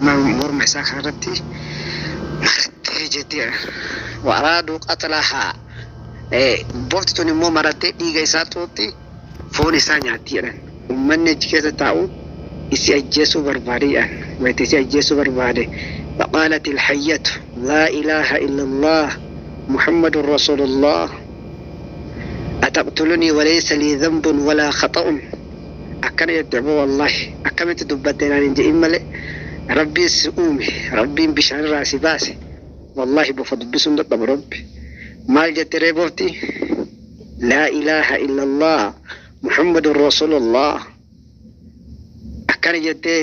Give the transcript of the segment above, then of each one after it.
Morma isaa kana irratti marattee jettee wa araaduu qatlahaa bofti tun immoo marattee dhiiga isaa xuuxxi foon isaa nyaatti jedhan ummanni achi keessa taa'u isi ajjeesuu barbaade jedhan wayita isi ajjeesuu barbaade faqaalati ilhayyatu laa ilaaha illallah muhammadun rasulullah ataqtulunii walaysa lii dhanbun walaa khaxa'un akkana jette aboo wallahi akkamitti dubbatte naan hin je'in malee rabbiin si uume rabbiin bishaan irraa si baase wallahi bofa dubbisuun dadhabu rabbi maal jette ree bofti laa ilaaha illallah muhammadun rasulullah akkana jettee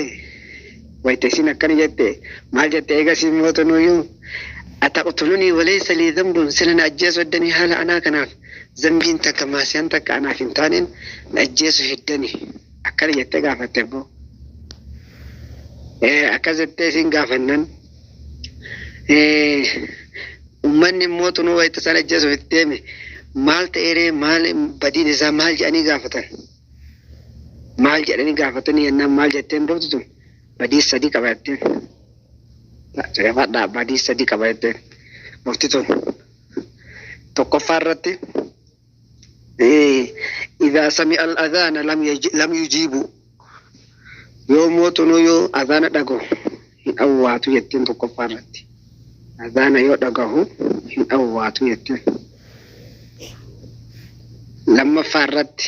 wayta isin akkana jette maal jette eegasii mootunuyyuu ataqtulunii walaysa lii dhanbun sila na ajjeesuu addanii haala anaa kanaaf Zambiin takka Maasiyaan takka anaaf hin taaneen na ajjeesu heddani akkana jettee gaafatte abboo. Eh, Akkas jettee isin gaafannan eh, ummanni immoo tunuu wayita isaan ajjeesuuf itti deeme maal ta'eeree maal badiin isaa maal jedhanii gaafatan. Maal jedhanii gaafatanii yennaan maal jetteen duutu tun badii sadii qaba jetteen. Caqafadhaa badii sadii qaba jetteen. Murti tun. tokkoffaa irratti idaa sami al adhaana lam yujiibu yoo mootunuu yoo adhaana dhagahu hin awwaatu jetteen tokkoffaa irratti adhaana yoo dhagahu hin awwaatu jetteen lammaffaa irratti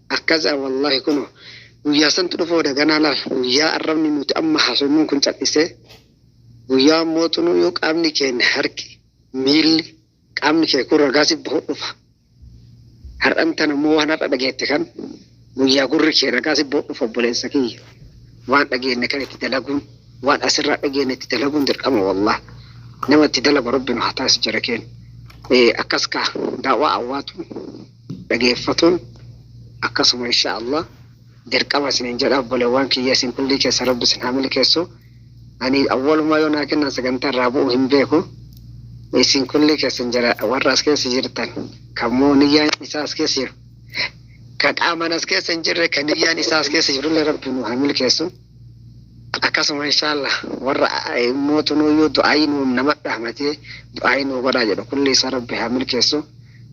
Akkasdha wallahi kuno guyyaa santu dhufooda ganaa laal guyyaa arrabni nuti amma haasofnuun kun cal'isee guyyaa mootunuu yoo qaamni keenya harki miilli qaamni kee kun ragaasi bahu dhufa har'an tan ammoo waan har'a dhageette kan guyyaa gurri kee ragaasi bahu dhufa obboleessa kiyya waan dhageenne kan itti dalaguun waan asirraa dhageenne itti dalaguun dirqama wallah nama itti dalagu rabbi nu haa taasi jara keenya akkas kaa daawaa awwaatu dhageeffatun akkasuma insha Allah dirqama isinin jedha obbolewwan kiyya isin kullii keessan rabbi isin haa milkeessu ani awwalumaa yoo naa kennan sagantaa irraa bu'u hin beeku isin kullii keessan jira warra as keessa jirtan kan moo niyyaan isaa as keessa jiru ka qaaman as keessa hin jirre ka niyyaan isaa as keessa jirullee rabbi nu haa milkeessu akkasuma insha Allah warra mootunuyyuu du'aayi nu nama dhaamatee du'aayi nu godhaa jedhu kulli isaa rabbi haa milkeessu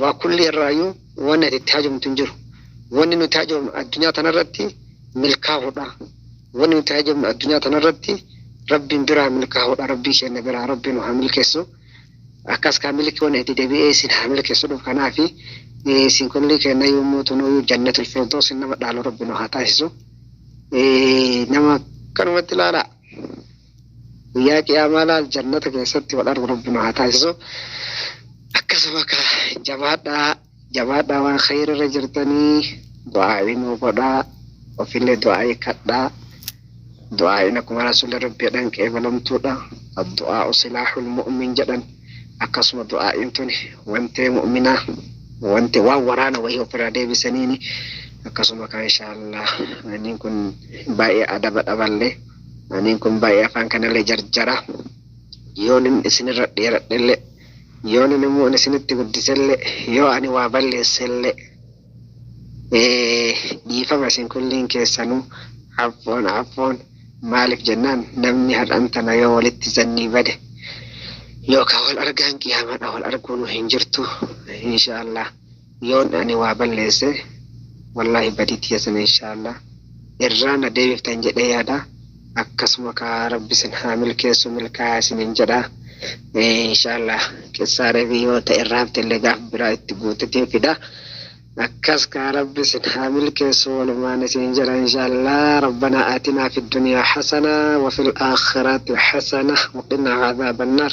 Waa kulli irraayuu wanni ati itti hajomtu hin jiru. Wanni nuti hajomnu addunyaa tana irratti milkaahudha. Wanni nuti hajomnu addunyaa tana irratti Rabbiin biraa milkaahudha. Rabbii keenna biraa Rabbi nu haa milkeessu. Akkas kaa milki wanni itti debi'ee isin haa milkeessu dhuf kanaafi isin kulli keenna yommuu tunuuyuu jannatul firdoosin nama dhaalu Rabbi nu haa taasisu. Nama kanumatti ilaalaa. Guyyaa qiyaamaa laal jannata keessatti wal argu rabbi nu haa taasisu akkasuma ka jabaadhaa jabaadhaa waan khayri irra jirtanii du'aa'ii nuu godhaa ofillee du'aa'ii kadhaa du'aa'iin akkuma rasuulli rabbi jedhan qeebalamtuudha addu'aa'u silaahul mu'min jedhan akkasuma du'aa'iin tuni wantee mu'minaa wanti waan waraana wayii ofirraa deebisaniini akkasuma kan inshaallah aniin kun baay'ee adaba dhaballee Aniin kun baay'ee afaan kanallee jarjara. Yoonin isinirra dheeradhellee, yoonin immoo ani isinitti guddisellee, yoo ani waa balleessellee, dhiifama isin kulliin keessanuu affoon affoon maaliif jennaan namni har'an tana yoo walitti zannii bade yookaan wal argaan qiyaamaadha wal arguunu hin jirtu. Inshaa Allah. Yoon ani waa balleesse wallaahi badii tiyya sana inshaa'allaah irraa na deebiftan jedhee yaada akkasuma kaa rabbi isin haa milkeessu milkaayaa isiniin jedha inshaa'allaah qissaa reebii yoo ta'e irraa hafte illee gaaf biraa itti guutetiin fida akkas kaa rabbi isin haa milkeessu walumaan isiniin jedha inshaa'allaah rabbanaa aatinaa fid duniyaa hasanaa wafil aakhiraati hasanaa waqinaa azaabannaar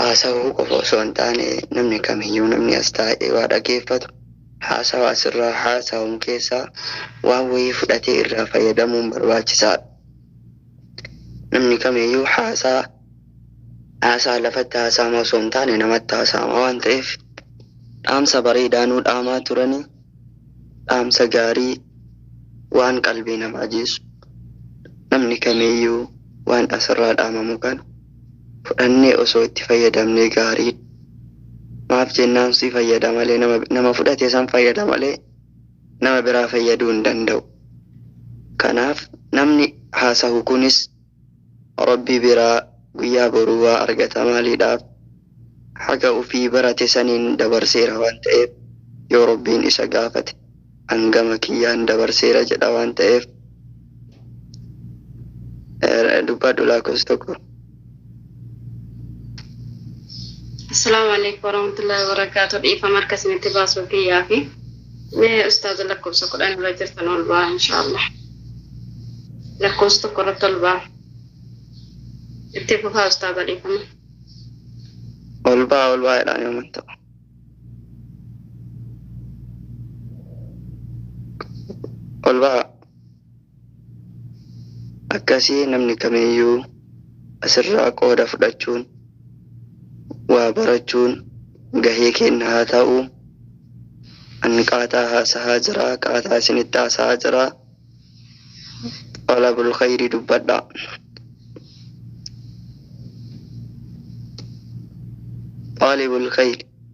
haasawuu qofa osoo hin taane namni kamiyyuu namni as taa'ee waa dhageeffatu haasawa asirraa haasawamu keessaa waan wayii fudhatee irraa fayyadamuun barbaachisaadha. Namni kamiyyuu haasaa haasaa lafatti haasaama osoo hin taane namatti haasaama waan ta'eef dhaamsa bareedaa nuu dhaamaa turanii. Dhaamsa gaarii waan qalbii namaa jiisu. Namni kamiiyyuu waan asirraa dhaamamu kana fudhannee osoo itti fayyadamnee gaariidha. Maaf jennaan si fayyada malee nama nama fudhate san fayyada malee nama biraa fayyaduu hin danda'u. Kanaaf namni haasahu kunis. Rabbi biraa guyyaa boruu waa argata maaliidhaaf haga ufii barate saniin dabarseera waan ta'eef yoo Rabbiin isa gaafate an gama kiyyaan dabarseera jedha waan ta'eef dubbadhu laakofsa 1. Assalaamu alaikum warahmatullahi wabarakatuh. Dhiifama harka isinitti baasuu kiyyaa fi mee ustaaza lakkoofsa kudhan irra jirtan ol ba'aa inshaallah. Lakkoofsa tokko irratti ol ba'aa. Itti fufaa ustaaza dhiifama. Ol ba'aa ol ba'aa jedhaan yooma ta'u. Ol ba'aa. Akkasii namni kamiyyuu asirraa qooda fudhachuun waa barachuun gahee keenna haa ta'u. An qaataa haasahaa jira, qaataa isinitti haasahaa jira. Xalabul khayrii dubbadha. Xaalibul khayri.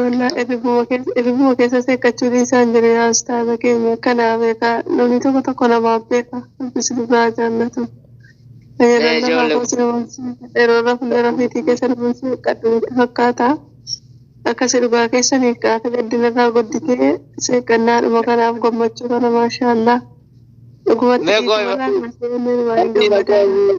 Wallah ebibuma keessa ebibuma keessa seekkachuu dhiisaan jiru yaa ustaaza keenya akkanaa beekaa namni tokko tokko namaaf beeka rabbis dhugaa jaallatu fayyadamna Ee, ijoollee- haafoo sinu bulchuu yeroo rafne rafiitii keessa nu bulchuu qaddumitti fakkaata akkasi dhugaa keessan hiikkaata gaddinarraa gudditee seeqannaadhuma kanaaf gammachuu kana maashaallah dhugumatti Mee dhiifama gooyima. irraa hin seenne waan hin gammadne.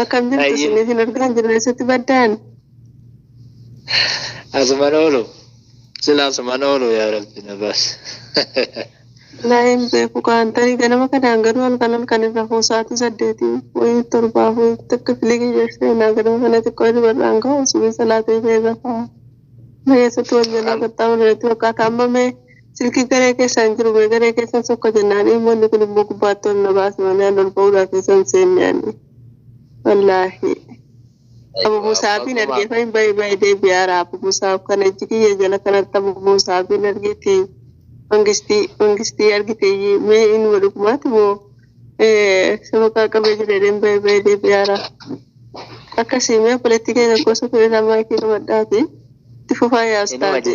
Akkam jirtu Ayyi. isin isin argaa jirra eessatti baddaan? Asuman oolu. Sila asuman oolu yaa rabbi na baas. Laayin beeku kaan tarii ganama kanaan garuu halkan halkan irra hoo sa'aatii saddeetii wayii torbaaf wayii takka filigii jettee naa ganama kana xiqqoo hirribarraan ka'u subii salaatee ta'e irra ta'a. Mee eessatti wal jalaa qaxxaamurreetti fakkaata amma mee Silkii garee keessaa hin jiru mee garee keessan sokka jennaan ilmoonni kun immoo gubbaatti ol na baase malee an ol ba'uudhaa keessa hin seenne ani. Wallaahi. Abu Musaabiin argee fayin bayi bayi deebi'aara Abu Musaab kana ijji kiyya jala kanatti Abu Musaabiin argeeti mangistii mangistii argiteeyyi mee inuma dhugumaati moo sabaqaa qabee jedheen bayi bayi deebi'aara. Akkasii mee obboleettii keenya gosa kun irraa maayikii qabadhaati itti fufaa yaa ustaazi.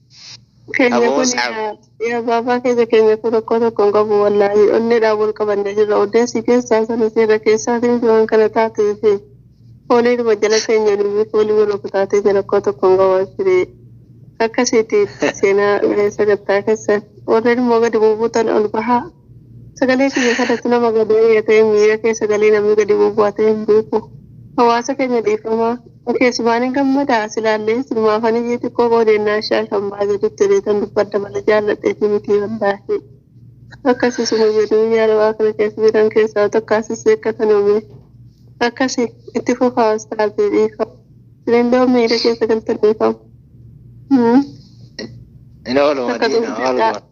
Keenya Aboo kun saaf. yaa yaa baabaa keenya keenya kun rakkoo tokko hin qabu wallaahi onneedhaan wal qabannee jirra odeessi keessaa sana seera keessaatiin fi waan kana taatee fi fooliidhuma jala keenya nuyi foolii wal rukutaatee jira rakkoo tokko hin qabu ashirii akkasiiti seenaa eh, sagantaa keessan warreen immoo gadi bubuutan ol bahaa Sagalee kiyya kanatti nama gad aayya ta'e miira keessa galee namni gadi bu'bu'a ta'e hin beeku. Hawaasa keenya dhiifama. Keessumaani gammada silaallee silumaafan iyyii xiqqoo qoodeennaa ishee alfan baasa jette beetan dubbadha malee jaalladheeti mitii wallaahii. Akkasi suma jedhuu yaa dawaa kana keessa jiran keessaa takkaa sisseekka tana mee. Akkasi itti fufaa ustaazii dhiifama. Sinillee on miira keessa galtan dhiifama. Hin oolu Takka madiina dubbadhaa. ooluma.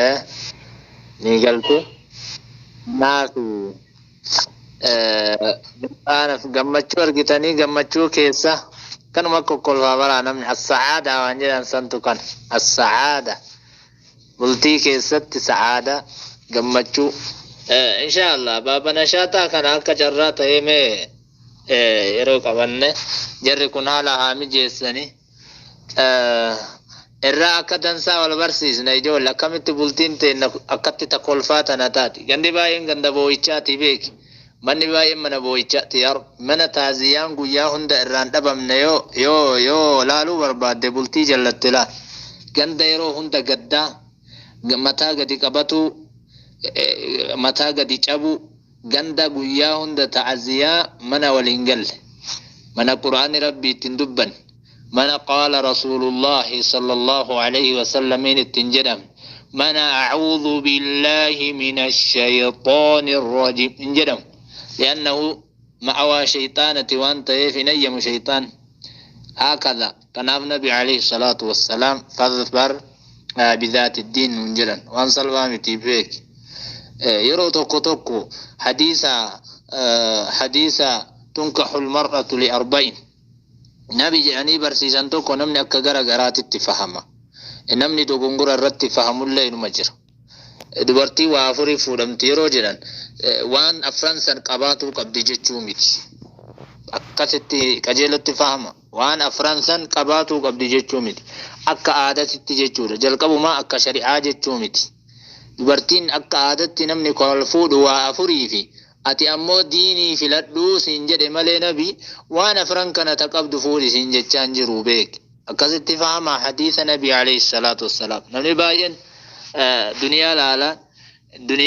Eh, ni galte naafi eh, gammadaanaf gammachuu argitanii gammachuu keessa kanuma kokkolfaa baraa namni as-sa'aada waan jedhan santu kan as-sa'aada bultii keessatti sa'aada gammachuu eh, inshaallah baaba nashaaxaa kana akka carraa ta'ee mee eh, yeroo qabanne jarri kun haala haa mijeessanii irraa akka dansaa wal barsiisna ijoolle akkamitti bultiin teenna akkatti ta kolfaa tana taati gandi baay'een ganda boo'ichaati beeki manni baay'een mana boo'ichaati yaa rabbi mana taaziyaan guyyaa hunda irraan dhabamne yoo yoo yoo laaluu barbaadde bultii jallatte laa ganda yeroo hunda gaddaa mataa gadi qabatuu mataa gadi cabuu Ganda guyyaa hunda ta'aziyaa mana wal hin galle, mana qur'aanni Rabbii itti hin dubbanne, mana qaala Rasuulullaahi sallallaahu aleeyhi wasallamiin itti hin jedhamne, mana a'uudhu billaahi minashayxaani rrajiim hin jedhamu. Li'annahu ma'awaa shayxaanati waan ta'eef hin hayyamu shayxaanni. Haakadhaa. Kanaaf nabi aleyh salaatu wassalaam fadhfar bidhaati diin nuun jedhan waan salphaa miti beeki yeroo tokko tokko hadiisa hadiisa tunkaxul mar'atu li arba'in nabi jedhanii barsiisan tokko namni akka gara garaatitti fahama namni dogongora irratti fahamullee inuma jira dubartii waa afurii fuudhamti yeroo jedhan waan afran san qabaatuu qabdi jechuu miti akkasitti qajeelatti fahama Waan afran san qabaatuu qabdi jechuu miti. Akka aadatitti jechuudha. Jalqabumaa akka shari'aa jechuu miti. Dubartiin akka aadatti namni kawal fuudhu waa afuriifi ati ammoo diinii filadhu siin jedhe malee nabi waan afran kana ta qabdu fuudhi siin jechaa hin jiru beeki. Akkasitti fahamaa hadiisa nabi alayhi salaatu wassalaam. Namni baay'een duniyaa laala. Duniyaa.